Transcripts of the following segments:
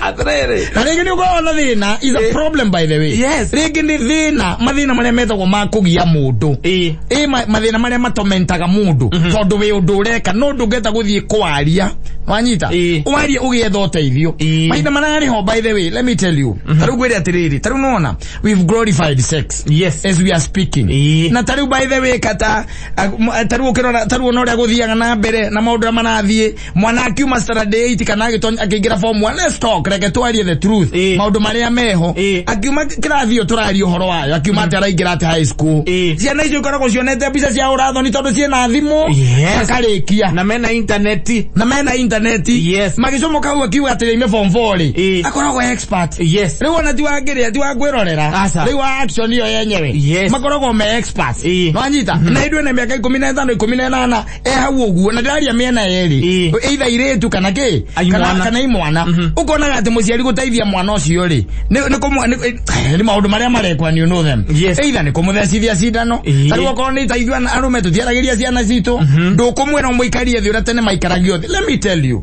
atiriri na rĩngĩ nĩ ũkoragwo na thĩna is a problem by the way Yes. rĩngĩ nĩ thĩna mathĩna marĩa metagwo ma kũgia mũndũ Ĩĩ. ĩ ma- mathĩna marĩa matomentaga mũndũ tondũ wĩ ũndũ ũreka no ndũngĩhota gũthiĩ kwaria wanyita Ĩĩ. warie ũgĩetha ũteithio Ĩĩ. mahinda mararĩ ho by the way let me tell you ta rĩu ngwĩre atĩrĩrĩ ta rĩu nona we've glorified sex Yes. as we are speaking Ĩĩ. na ta rĩu by the way kata a- m- ta rĩu ũkĩrora ta rĩu ona ũrĩa gũthiaga na mbere na maũndũ arĩa marathiĩ mwana akiuma standard 8 kana agitonya akiingira form 1 let's talk reke twarie the truth Eh. maundu maria meho Eh. akiuma kirathi iyo turaria uhoro wayo akiuma ati araingira ati high school Eh. ciana icio ikoragwo cionete mbica cia urathoni tondu ciina thimu Yes. akarikia na mena intaneti na mena intaneti Yes. magicomo kau akiuga atä ime form 4 rä Eh. akoragwo expert yes rä u ona ti wangä rä a ti wangwä rorera Aca. rä u wa action ä yo yenyewe Yes. makoragwo me experts Eh. nwanyita na ithuä na mä aka ikå mi na ĩtano ikå mi na ĩnana e hau ũguo na ndaria mĩena yerĩ Ĩĩ. eitha irĩtu kana kĩ Ai kana, mwana. kana i mwana Mhm. ũkonaga atĩ mũciari gũteithia mwana ũcio rĩ nĩ nĩ kũmwa- nĩ- eh, nĩ maũndũ marĩa marekwa ni know them Yes. eitha nĩ kũmũthecithia cindano Ĩĩ. tarĩu okorwo nĩ itaithua arũme tũtiaragĩria ciana citũ ndũkũmwĩra mũikarie thĩ ũrĩa tene maikaragia thĩ let me tell you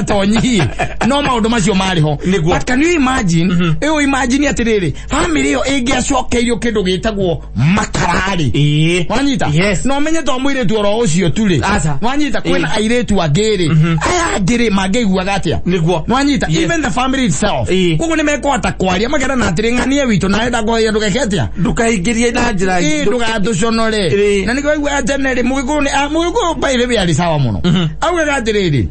tonyihie no maundu macio marĩ ho Nĩguo. but can you imagine ĩyo imagine atĩrĩrĩ family ĩyo ĩngĩacokeirio kĩndũ gĩtagwo makararĩ Ĩĩ. wanyita Yes. no menye to mwĩrĩtu oro ũcio tu rĩ Aca. wanyita kwĩna Ĩĩ. airĩtu angĩ rĩ aya angĩ rĩ mangĩiguaga atĩa Nĩguo. wanyita Yes. even the family itself Ĩĩ. koguo nĩ mekũhota kwaria makera na atĩrĩ ng'ania witũ nawe ndakoheria ndũgeke atĩa ndũkaingĩrie na njĩra ĩĩ ndũgatũconore Ĩĩ. na nĩkĩo aigua atene rĩ mũgĩkũyũ nĩ a- mũgĩkũyũ mbairĩ wĩ arĩ sawa mũno augaga atĩrĩrĩ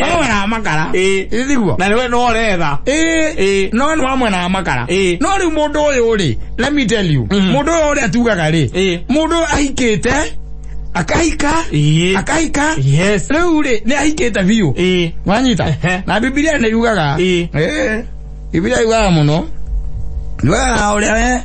wamwena makara ithiguo na niwe no retha no ni wamwena makara no riu mundu uyu ri let me tell you mundu uyu ri atugaga ri mundu ahikite akahika akahika riu ri ni ahikite biu wanyita na bibilia ni yugaga bibilia yugaga muno ni wega uria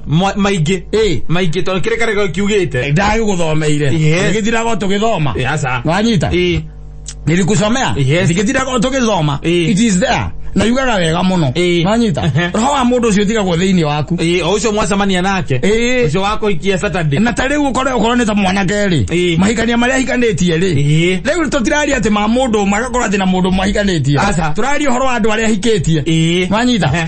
Ma- maingĩ Ĩĩ. maingĩ tondå kä rä karä kiugä te ndagä gå thomeire Yes. gä thiraga å tå gä thoma Ĩĩ, aca. wanyita Ĩĩ. nilikusomea Yes. ndikithiraga tugithoma Ĩĩ. it is there na yugaga wega mũno Ĩĩ. wanyita Ehe. roho wa mũndũ ũcio ũtigagwo thĩinĩ waku Ĩĩ, o å cio mwacemania nake Ĩĩ. å cio wakå ikia saturday na ta rĩu ũkore ũkorwo nĩ ta mwanake rĩ Ĩĩ. mahikania marĩa ahikanĩtie rĩ Ĩĩ. rĩu tũtiraria atĩ ma mũndũ ũmwe agakorwo atĩ na mũndũ ũmwe ahikanĩtie Aca. tũraria ũhoro wa andũ arĩa ahikĩtie Ĩĩ. wanyita Ehe.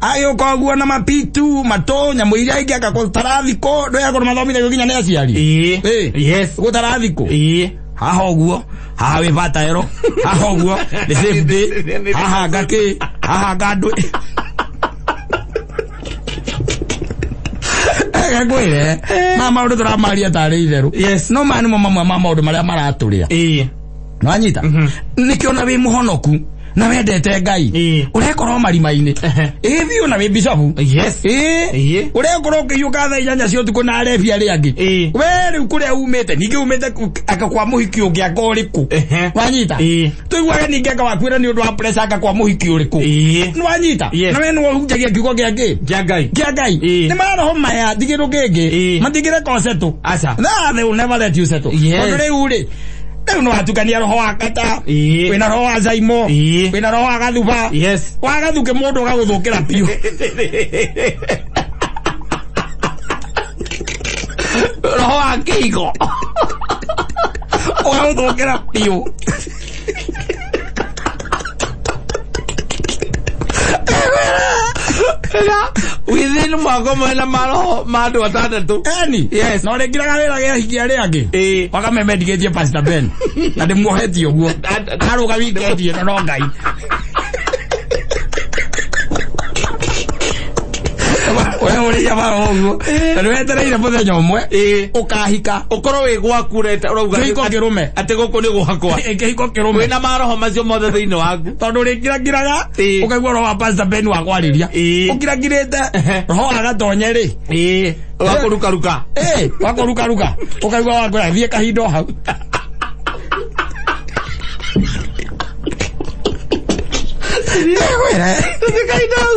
agĩũka ũguo na mapitu matũ nyamũ iria ingĩ agakorwo tarathikũ ndũĩ akorwo mathomithagio nginya nĩ aciari Ĩĩ. Ĩĩ. Yes. gũ tarathikũ Ĩĩ. haha ũguo haha wĩ vataero haha ũguo nĩ safe day haha ngakĩ haha ngandũ gakwĩre ma maũndũ tũramaria tarĩ itherũ Yes. no maya nĩmo mamwe ma maũndũ marĩa maratũrĩa Ĩĩ. nwanyita nĩkĩona wĩ mũhonoku na wendete ngai Ĩĩ. urekorwo marima-inĩ Ehe. ĩĩ biũ na wĩ bicabu Yes. Ĩĩ. Ĩĩ. urekorwo ũkĩhiũka thaa inyanya cia ũtukũ na arebi arĩa angĩ Ĩĩ. we rĩu kũrĩa umĩte ningĩ umĩte ku- aka kwa mũhiki ũngĩ anga ũrĩkũ Ehe. wanyita Ĩĩ. tũiguage ningĩ anga wakuĩra nĩ ũndũ wa pressure anga kwa mũhiki ũrĩkũ Ĩĩ. nĩwanyita Yes. na we nĩwahunjagia kiugo gĩa ngĩ Kĩa Ngai. kĩa ngai Ĩĩ. nĩ maroho maya ndigĩrũ kĩngĩ Ĩĩ. matigĩre ko setũ Aca. no they will never let you settle Yes. tondũ rĩu rĩ rĩu nĩ watukania roho wa kata Ĩĩ. wĩna roho wa zaimo Ĩĩ. wĩna roho wa gathuba Yes. wa gathuke mũndũ ũgagũthũkĩra biũ roho wa kĩigo ũgagũthũkĩra biũ within mwaka ũmwe na maroho ma andũ atandatũ Eni. Yes. Na ore kira gare gare hiki are ange. Eh. Waka me medicatie Pastor Ben. Na de muheti oguo. Aro ga weekend ye no ngai. Oya ore ya ba oguo. Na de wetereire muthenya umwe. Eh. Ukahika. ũkorwo wĩ gwaku ũreta ũrauga Kĩhiko kĩrũme. atĩ gũkũ nĩ gwakwa kĩhiko kĩrũme wĩna maroho macio mothe thĩinĩ waku tondå rä ngira ngiraga Ĩĩ. å kaigua roho wa pastor ben wa kwarä ria Ĩĩ. å ngira ngirä te Ehe. roho agatonye rä ĩĩ wakũrukaruka Ĩĩ, wakå ruka ruka å kaigua wakå athiä kahinda o hau Nĩgwĩre. kahinda hau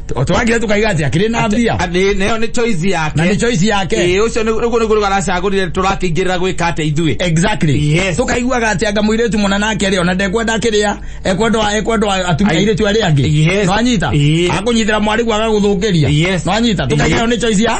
twagire tukaiga ati akiri na mbia Nĩ- nayo nĩ choice yake na ni choice yake Ĩĩ, ũcio nĩ- nĩguo nĩguo aracagũrire tũrakĩingĩrĩra gwĩka atĩa ithuĩ exactly Yes. tukaiguaga ati anga muiritu muna nake ri ona ndekwenda akiria ekwenda ekwenda atumia Ai- iritu aria angi Yes. no anyita Ĩĩ. akunyitira mwari gwaga guthukiria Yes. no anyita tukagira Ĩĩ. ni choice ya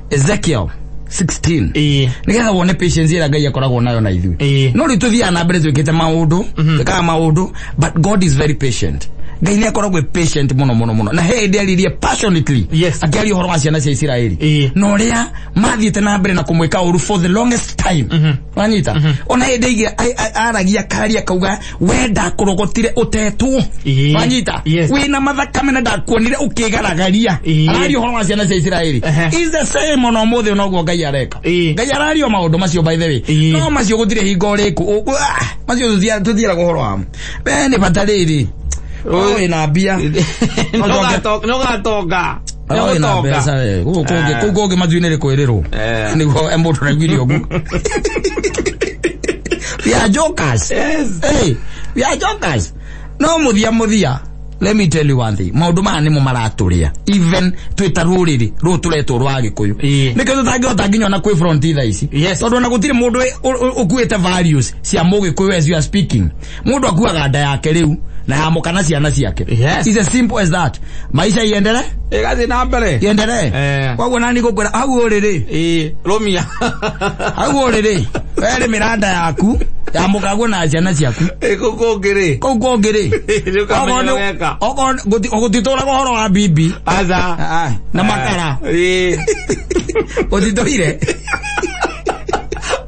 ezekiel 16 ĩĩ nigetha wone patience ĩrĩa ngai akoragwo nayo na ithuĩ Ĩĩ. no rĩu tũthiaga na mbere twĩkĩte maũndũ twĩkaga maũndũ but god is very patient ngai nä akoragwo e patient må no må no må no na he ndä aririe passionately Yes. akĩaria å horo wa ciana cia isiraeli Ĩĩ. na å rä a mathiä te na mbere na kå mwä ka å ru for the longest time wanyita ona hä ndä ingä aragia karia akauga we ndakurogotire utetwo Ĩĩ. wanyita Yes. wina mathakame na ndakuonire ukigaragaria Ĩĩ. araria uhoro wa ciana cia isiraeli Ehe. is the same ona umuthi noguo ngai areka Ĩĩ. ngai araria maundu macio by the way Ĩĩ. no macio gutire hingo riku macio tuthia- tuthiaraga uhoro wamo we ni bata riri we na mbia Nogatoga. Oi, na Nĩgũtonga. mbeca, eh. Gũkũ kũngĩ- kũu kũngĩ matuinĩ nĩ kwĩrĩrwo Eh. nĩguo mũndũ araiguire ũguo we are jokers Yes. hey, we are jokers no muthia muthia let me tell you one thing maundu maya nimo maraturia even twita ruriri ru turetwo rwa gikuyu Ii. nikio tutangihota nginya ona kwi front tha ici Yes. tondu ona gutire mundu ukuite values cia mugikuyu as you are speaking mundu akuaga nda yake riu na yamuka na ciana ciake Yes. It's as simple as that maisha iendere ĩgathiĩ na mbere iendere Eh. koguo nani ngũkwĩra hau ũrĩ rĩ Ĩĩ, rũmia hau ũrĩ rĩ werĩ mĩranda yaku yamukaguo na ciana ciaku ĩgũkũngĩ rĩ kau kũngĩ rĩ Nĩũkamenya Okorwo nĩ- weka. okorwo nĩ- gũti- gũtitũraga ũhoro wa bibi aca Ah, na makara Ĩĩ. gũtitũire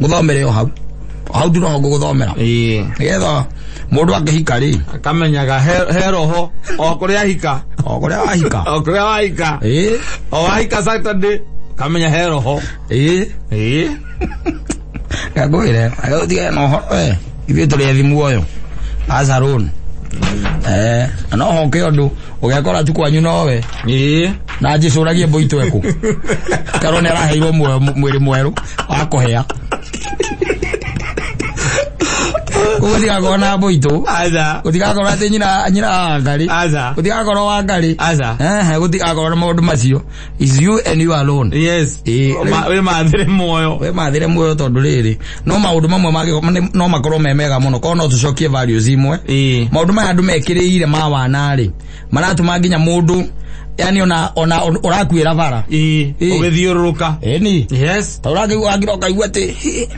nguthomere o hau O hau ndino nguguthomera ĩĩ nigetha mundu angihika ri akamenyaga he- he roho o kũrĩa ahika o kuria wahika o kũrĩa wahika ĩĩ o wahika saturday kamenya he roho ĩĩ ĩĩ ngagwire aguthiga na uhoro we ithuĩ tũrĩ ethi muoyo azarun eh na no hoke ũndũ ũgekora tu kwanyu nowe ĩĩ na njĩcũragie mbũi tweku karwo nĩ araheirwo muoyo mu- mwĩrĩ mwerũ wa kũhĩa koguo tigakorwo na mbũitũ aza gutigakorwo atä nyina nyina wa ngarä aza gutigakorwo wa ngarä aza ehe gutigakorwo na maå ndå macio is you and you alone yes Eh, Ma- wĩ mathĩre muoyo we mathire muoyo tondu riri no maundu mamwe mangä no makorwo me mega muno korwo no tucokie values imwe Ĩĩ. maundu maya andu mekirĩire ma wanarĩ maratuma nginya mundu yani ona ona ũrakuĩra bara Ĩĩ, Ĩĩ. ũgĩthiũrũrũka eni yes ta ũrangä ũrangä rokaigua atä